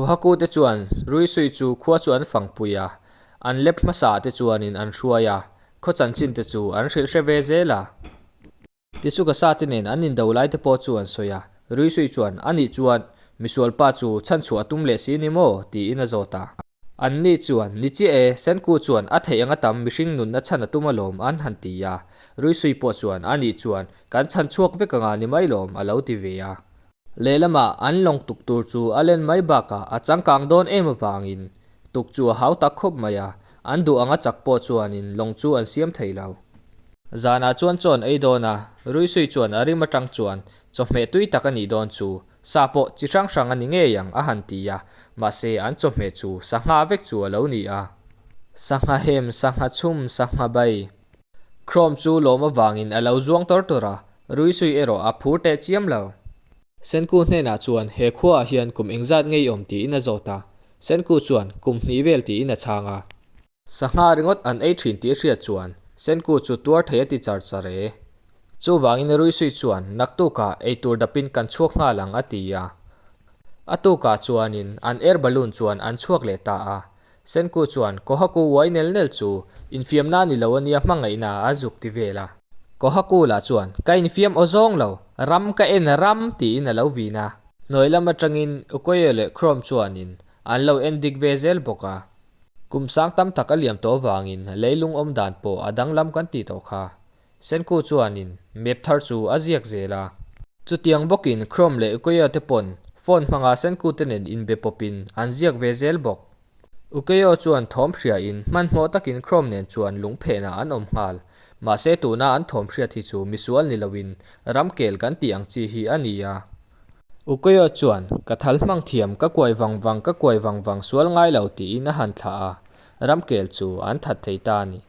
Nuhaku te chuan Ruisui chu khua chu an fangpui a, an lep hmasa te chuanin an hruai a, khaw chanchin te chu an hrilh hre ve zel a. Tichu ka sa te nen an indo lai te pawh chu an sawi a, Ruisui chuan a nih chuan misual pa chu chhan chhuah a tum leh si ni maw tiin a zawt a. An ni chuan ni chiah e, Senku chuan a theih anga tam mihring nun a chhan a tum alawm an han ti a, Ruisui pawh chuan a nih chuan kan chhan chhuak vek anga ni mai lawm a lo ti ve a. Lehlama an lawng tuk tur chu a len mai bakah a changkang dawn em avangin tuk chu a hau tak khawp mai a, an duh anga chak pawh chuanin lawng chu an siam thei lo. Zanah chuan chawn ei dawn a, Ruisui chuan a rim atang chuan chawhmeh tui tak a nih dawn chu sa pawh chi hrang hrang a ni ngei ang a han ti a, mahse an chawhmeh chu sangha vek chu a lo ni a. Sangha hem, sangha chhum, sangha bai. Chrome chu lawm avangin a lo zuang tawr tawr a, ruisui erawh a phur teh chiam lo. Senku hnenah chuan he khuaah hian kum eng zat ngei awm tiin a zawt a, Senku chuan kum hnih vel tiin a chhang a. Sangha ringawt an ei thin tih a hriat chuan Senku chu tuar thei a ti char char e. Chuvangin ruisui chuan naktukah eitur dapin kan chhuak nghal ang a ti a. A tukah chuanin an air balloon chuan an chhuak leh ta a, Senku chuan Kohaku uai nel nel chu infiamna a ni lo ania hmangaihna a zuk ti vel a. Kohaku lah chuan ka infiam aw zawng lo, ram ka en ram tiin a lo vin a. Hnuai lam atangin Okoye leh Chrome chuanin an lo en dik ve zel bawk a. Kum sang tam tak a liam tawh vangin leilung awm dan pawh a danglam kan ti tawh kha. Senku chuanin map thar chu a ziak zel a. Chutiang bawkin Chrome leh Ukiyo te pawn phone hmanga Senku te nen inbe pawpin an ziak ve zel bawk. Ukiyo chuan thawm hriain hmanhmawh takin Chrome nen chuan lung phehna an awm nghal. Mahse tuna an thawm hriat hi chu misual ni loin ram kel kan tih ang chi hi a ni a. Ukiyo chuan ka thal hmang thiam ka kuai vang vang ka kuai vang vang sual ngai lo tiin a han thlah a, ram kel chu an that thei ta a ni.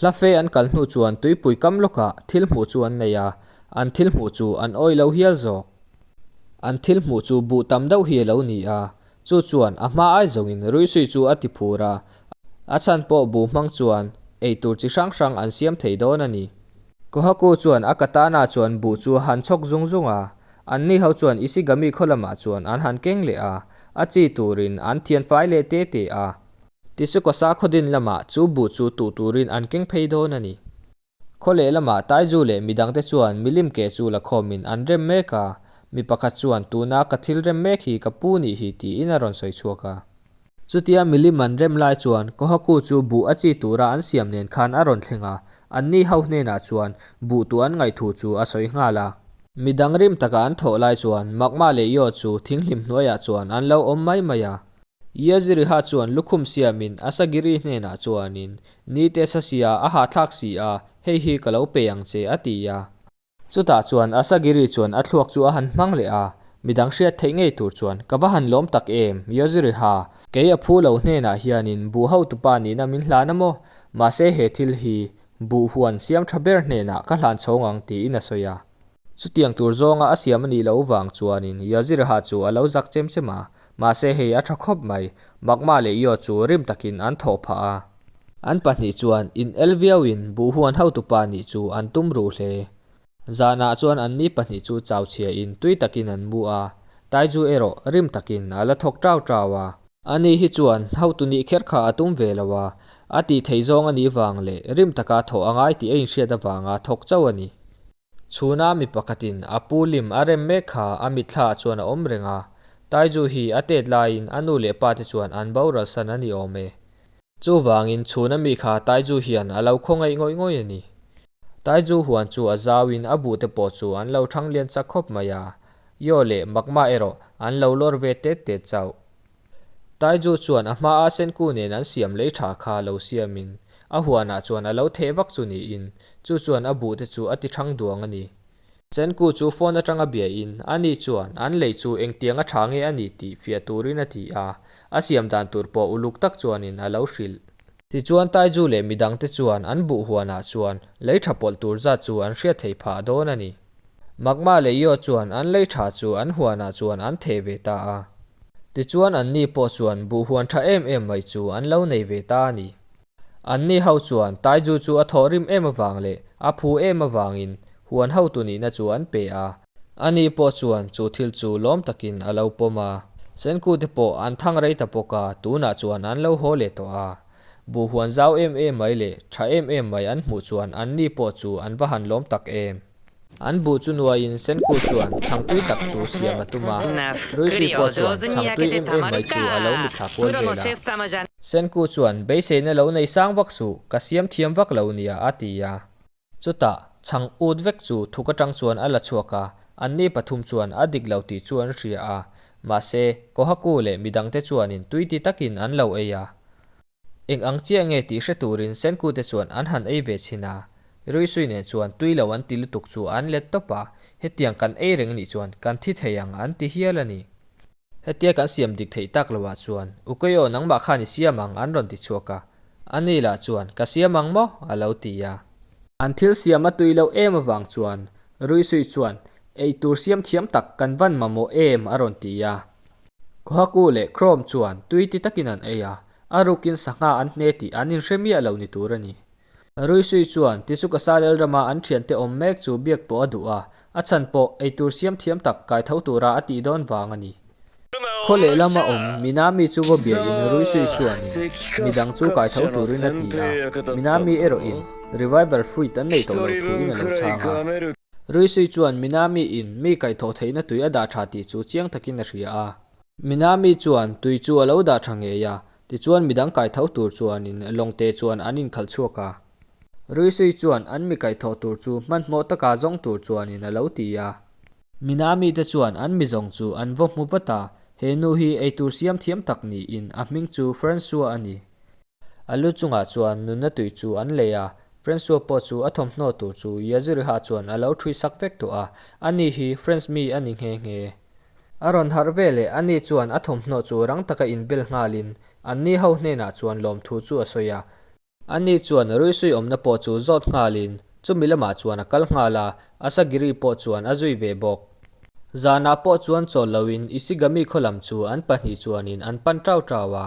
Hla fe an kal hnu chuan tuipui kam lawkah thil hmuh chu an nei a, an thil hmuh chu an awi lo hial zawk. An thil hmuh chu buh tam deuh hi a lo ni a, chu chuan a hma ai zawngin ruihsui chu a ti phur a, a chhan pawh buh hmang chuan eitur chi hrang hrang an siam thei dawn a ni. Kohaku chuan a ka tana chuan buh chu a han chhawk zung zung a, an ni ho chuan Ishigami khaw lamah chuan an han keng leh a, a chi turin an thianfai leh te te a. Tisuka Sakhaw-din lamah chu bu chu tuh turin an keng phei dawn a ni. Khaw leh lamah Taizu leh mi dangte chuan milim ke chu la khawmin an rem mek a, mi pakhat chuan tuna ka thil rem mek hi ka pu ni hi tiin a rawn sawi chhuak a. Chutia milim an rem lai chuan Kohaku chu bu a chi tura an siam nen khan a rawn thleng a, anni ho hnenah chuan bu tuh an ngaih thu chu a sawi nghal a. Mi dang rim taka an thawh lai chuan Magma leh Yaw chu thing hlim hnuaiah chuan an lo awm mai mai a. Iaziriha chuan lukhum siamin Asagiri hnenah chuanin, Ni te sa si a, a hahthlak si a, hei hi ka lo pe ang che, a ti a. Chutah chuan Asagiri chuan a thluak chu a han hmang leh a, Mi dang hriat theih ngei tur chuan, ka va han lawm tak em, Iaziriha? Kei a phu lo hnenah hianin buh hotupa nihna min hlan a maw? Mahse he thil hi buh huan siamtha ber hnenah ka hlan chhawng ang, tiin a sawi a. Chutiang tur zawnga a siam a nih loh vang chuanin Iaziriha chu a lo zak chem chem a, Mahse hei a tha khawp mai. Magma leh Io chu rim takin an thawh phah a. An pahnih chuan in el viauin buhhuan hotu pa nih chu an tum ruh hle. Zanah chuan an ni pahnih chu chauchhiahin tui takin an mu a. Taizu erawh rim takin a la thawk tau tau a. A ni hi chuan hotu nih kher kha a tum ve lo a, a tih theih zawng a nih vang leh rim taka thawh a ngai tih a inhriat avanga thawk chauh a ni. Chhuna mi pakhatin a pu lim a rem mek kha a mitthla chuan a awm reng a, Taizu hi a tet laiin a nu leh pa te chuan an boral san a ni awm e. Chuvangin chhuna mi kha Taizu hian a lo khawngaih ngawih ngawih a ni. Taizu huan chu a zauin a bu te pawh chu an lo thang lian chak khawp mai a, Yaw leh Makma erawh an lo lawr ve tet tet chauh. Taizu chuan a hmaa Senku nen an siam lei tha kha lo siamin a huanah chuan a lo theh vak chu niin, chu chuan a buh te chu a ti thang duang a ni. Senku chu phone atanga biain ani chuan an lei chu engtiang a tha nge a ni tih fiah turin a ti a, a siam dan tur pawh uluk tak chuanin a lo hrilh. Tichuan Taiju leh midang te chuan an buh huanah chuan lei tha pawlh tur zat chu an hriat theih phah dawn a ni. Magma leh Yod chuan an lei tha chu an huanah chuan an theh ve ta a. Tichuan an ni pawh chuan buh huan tha em em mai chu an lo nei ve ta a ni. An ni ho chuan Taiju chu a thawh rim em avang leh a phu em avangin huan hotu nihna chu an pe a. Ani pawh chuan chu thil chu lawm takin a lo pawm a, Senkute pawh an thang rei ta bawk a, tunah chuan an lo haw leh tawh a. Buh huan zau em em mai leh tha em em mai an hmuh chuan anni pawh chu an va han lawm tak em. An buh chu nuaiin Senkute chuan chhangtui tak chu siam a tum a, Ruisi pawh chuan chhangtui em em mai chu a lo mitthla kual vel a. Senkute chuan, Beiseina lo nei sang vak suh, ka siam thiam vak lo nia, a ti a. Chutah, chhang ût vek chu thuk aṭang chuan a la chhuak a, anni pathum chuan a dik lo tih chu an hria a. Mahse, Kohaku leh mi dangte chuanin tuiti takin an lo ei a. Eng ang chiah nge tih hre turin Senkute chuan an han ei ve chhin a. Ruisui nen chuan tui lo an ti lutuk chu an let tawp a, hetiang kan ei reng nih chuan kan thi thei ang an ti hial a ni. Hetia kan siam dik theih tak lo ah chuan Ukayo nangmah khan i siam ang an rawn ti chhuak a, a ni lah chuan ka siam ang maw? a lo ti a. An thil siam a tui lo em avang chuan Ruisui chuan ei tur siam thiam tak kan van ma maw em? a rawn ti a. Kohaku leh Krom chuan tui ti takin an ei a, a rukin sangha an hne tih an inhre miah lo ni tur a ni. Ruisui chuan, Tisu ka sa lel rama an thiante awm mek chu biak pawh a duh a, a chhan pawh eitur siam thiam tak kai tho tura a tih dawn vang a ni. Khaw lehlam a awm Mina mi chu vabiain Ruisui chuanin mi dang chu kai tho turin a ti a, Mina mi erawhin Revival fruit an nei tawh lo thuin a lo chhang a. Ruisui chuan Mina mi in mi kai tho theihna tui a dah tha tih chu chiang takin a hria a. Mina mi chuan tui chu a lo dah tha ngei a, Tichuan midang kaitho tur chuanin Lawngte chuan an inkhal chhuak a. Ruisui chuan an mi kaithawh tur chu hmanhmawh taka zawng tur chuanin a lo ti a. Mina mite chuan an mi zawng chu an vaw hmu vat a, he nu hi eitur siam thiam tak niin a hming chu Francois a ni. A lu chungah chuan nunna tui chu an lei a, Francois pawh chu a thawmhnaw tur chu Yaziriha chuan a lo ṭhuisak vek tawh a, ani hi French mi a ni nghe nghe. A rawn harh veleh a ni chuan a thawmhnaw chu rang taka inbel nghalin an ni ho hnenah chuan lawm thu chu a sawi a. A ni chuan ruisui awmna pawh chu zawt nghalin chumi lamah chuan a kal nghal a, a sagiri pawh chuan a zui ve bawk. Zanah pawh chuan chawl loin Isigami khaw lam chu an pahnih chuanin an pan ṭau ṭau a.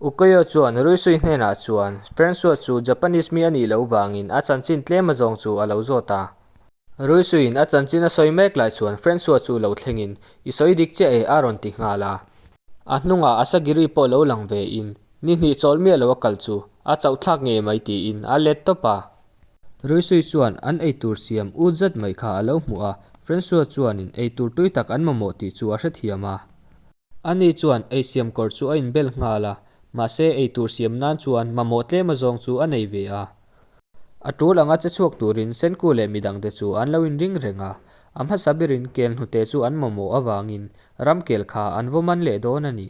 Ukoyo chuan Ruisui hnenah chuan Francois chu Japanese mi a nih loh vangin a chanchin tlem a zawng chu a lo zawt a. Ruisuiin a chanchin a sawi mek lai chuan Francois chu lo thlengin, I sawi dik chiah e a rawn ti nghal a. A hnungah Asagiri pawh lo lang ve in, Ni hnih chawl miah lo a kal chu, a chauh thlak nge mai tiin a let tawp a. Ruisui chuan an ei tur siam ut zet mai kha a lo hmu a, Francois chuanin ei tur tui tak an mamawh tih chu a hrethiam a. Ani chuan ei siam kawr chu a inbel nghal a, mahse ei tur siam nan chuan mamawh tlema zawng chu a nei ve a. A tul anga che chhuak turin Senku leh mi dangte chu an lo inring reng a, a hmasa berin kel hnute chu an mamawh avangin Ramkel kha an vawman leh dawn a ni.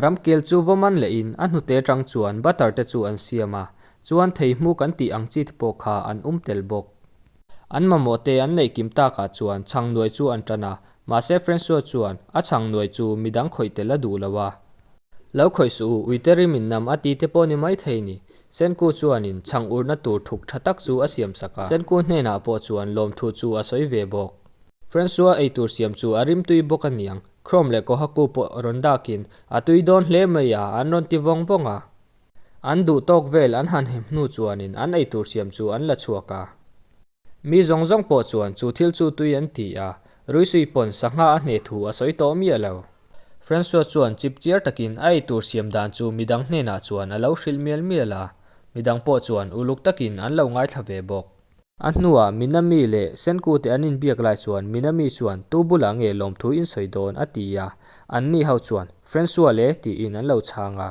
Ramkel chu vawman leh in a hnute atang chuan butter te chu an siam a, chuan thei hmu kan tih ang chi te pawh kha an um tel bawk. An mamawh te an neih kim takah chuan chhang nuai chu an tan a, Mahse Francois chuan a chhang nuai chu midang khawih tel a duh lo a. Lo khawih suh u, uite rim in nam a tite pawh ni maithei ni. Senku chuanin chhang urna tur thuk tha tak chu a siam sak a. Senku hnenah pawh chuan lawmthu chu a sawi ve bawk. Francois eitur siam chu a rim tui bawk a niang. Chrome leh Kohaku pawh rawn dakin a tui dawn hle mai a, an rawn ti vawng vawng a. An duhtawk vel an han hep hnu chuanin an eitur siam chu an la chhuak a. Mi zawng zawng pawh chuan chu thil chu tui an ti a, Ruisui pawn sangha a hne thu a sawi tawh miah lo. Francois chuan chip chiar takin a ei tur siam dan chu midang hnenah chuan a lo hrilh mial mial a, midang pawh chuan uluk takin an lo ngaithla ve bawk. A hnuah Mina mi leh Senkute an inbiak lai chuan Mina mi chuan tu bulah nge lawmthu in sawi dawn a ti a, anni ho chuan Francois le tiin an lo chhang a.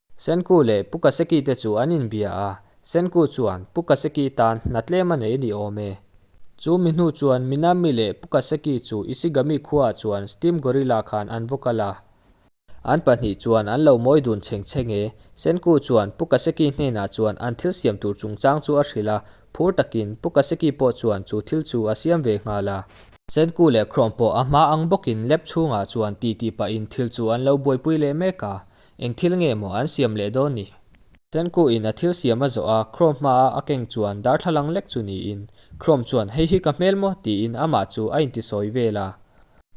Senku leh Puka Seki te chu an inbia a, Senku chuan Puka Seki tan hna tlem a nei ni awm e. Chu mi hnu chuan Minami leh Puka Seki chu Ishigami khuaah chuan Steam Gorilla khan an vaw kal a. An pahnih chuan an lo mawi dun cheng cheng e. Senku chuan Puka Seki hnenah chuan an thil siam tur chungchang chu a hrilh a, phur takin Puka Seki pawh chuan chu thil chu a siam ve nghal a. Senku leh Chrome pawh a hma ang bawkin lab chhungah chuan titi pahin thil chu an lo buaipui leh mek a, Eng thil nge maw an siam leh dawn ni? Senku in a thil siam a zawh a, Chrome hma a a keng chuan darthlalang lek chu niin, Chrome chuan hei hi ka hmel maw? tiin amah chu a inti sawi vel a.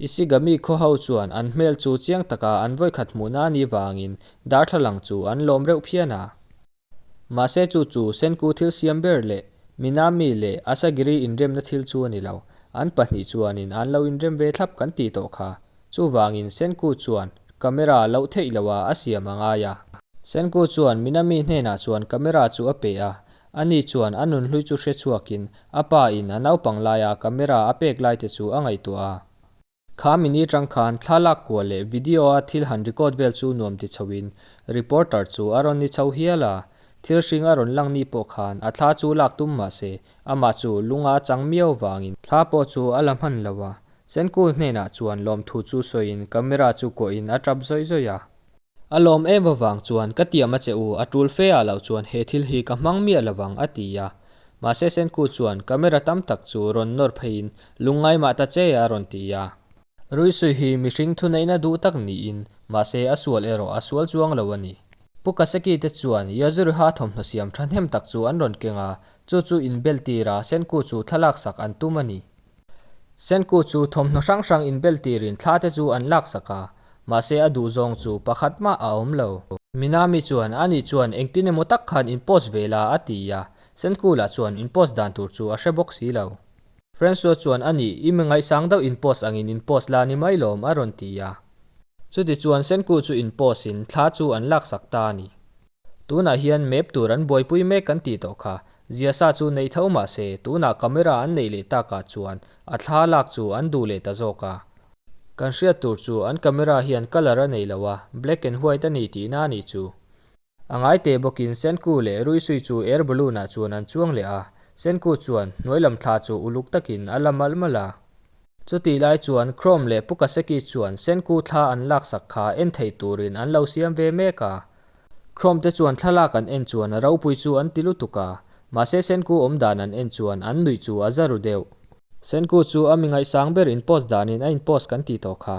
Ishigami khaw ho chuan an hmel chu chiang taka an vawikhat hmuhna ni vangin darthlalang chu an lawm reuh phian a. Mahse chu chu Senku thil siam ber leh Minami leh Asagiri inremna thil chu a ni lo. An pahnih chuanin an lo inrem ve thlap kan tih tawh kha. Chuvangin Senku chuan camera loh theih loh a a siam a ngai a. Senku chuan Minami hnenah chuan camera chu a peh a, ani chuan a nunhlui chu hre chhuakin a pa in a naupang laia camera a pek lai te chu a ngaihtuah a. Kha minute rang khan thla lak kuah leh video-a thil han record vel chu nuam ti chhoin reporter chu a rawn ni chho hial a, thil hring a rawn lang ni pawh khan a thla chu lak tum mah se, amah chu lung a chang miau vangin. Thla pawh chu a la hman lo a, Senkul hnenah chuan lawmthu chu sawiin camera chu kuahin a tap zawih zawih a. A lawm em avang chuan, Ka tiam a che u, a tul fe ah loh chuan he thil hi ka hmang miah lovang, a ti a. Mahse Senku chuan, Camera tam tak chu rawn nawr pheiin lungngai mah ta che, a rawn ti a. Ruisui hi mihring thuneihna duh tak niin, mahse a sual erawh a sual chuang lo a ni. Pu Kaseki te chuan Yajuriha thawmhnaw siam thahnem tak chu an rawn keng a, chu chu inbel tirah Senku chu thlalak sak an tum a ni. Senku chu thawmhnaw hrang hrang inbel tir in thla te chu an lak sak a, mahse a duh zawng chu pakhat mah a awm lo. Minami chuan a nih chuan engtin emaw tak khan in post ve la a ti a, Senku lah chuan in post dan tur chu a hre bawk si lo. Francois chuan a nih i mi ngaihsang deuh in post angin in post la ni mai lawm a rawn ti a, chuti chuan Senku chu in post in thla chu an lak sak ta a ni. Tunah hian map tur an buaipui mek kan tih tawh kha, zia sa chu nei tho mah se, tunah camera an nei leh tak ah chuan a thla lak chu an duh leh ta zawk a. Kan hriat tur chu an camera hian colour a nei lo a, black and white a ni tihna a nih chu. A ngai teh bawkin Senku leh Ruisui chu air balloon ah chuan an chuang leh a, Senku chuan hnuailam thla chu uluk takin a la mal mal a. Chutih lai chuan Chrome leh Pukaseki chuan Senku thla an laksak kha en thei turin an lo siam ve mek a, Chrome te chuan thlalak an en chuan a ropui chu an ti lutuk a, mahse Senku awm dan an en chuan an nuih chu a za ru deuh. Senku chu a mi ngaihsang ber in post danin a in post kan ti tawh kha.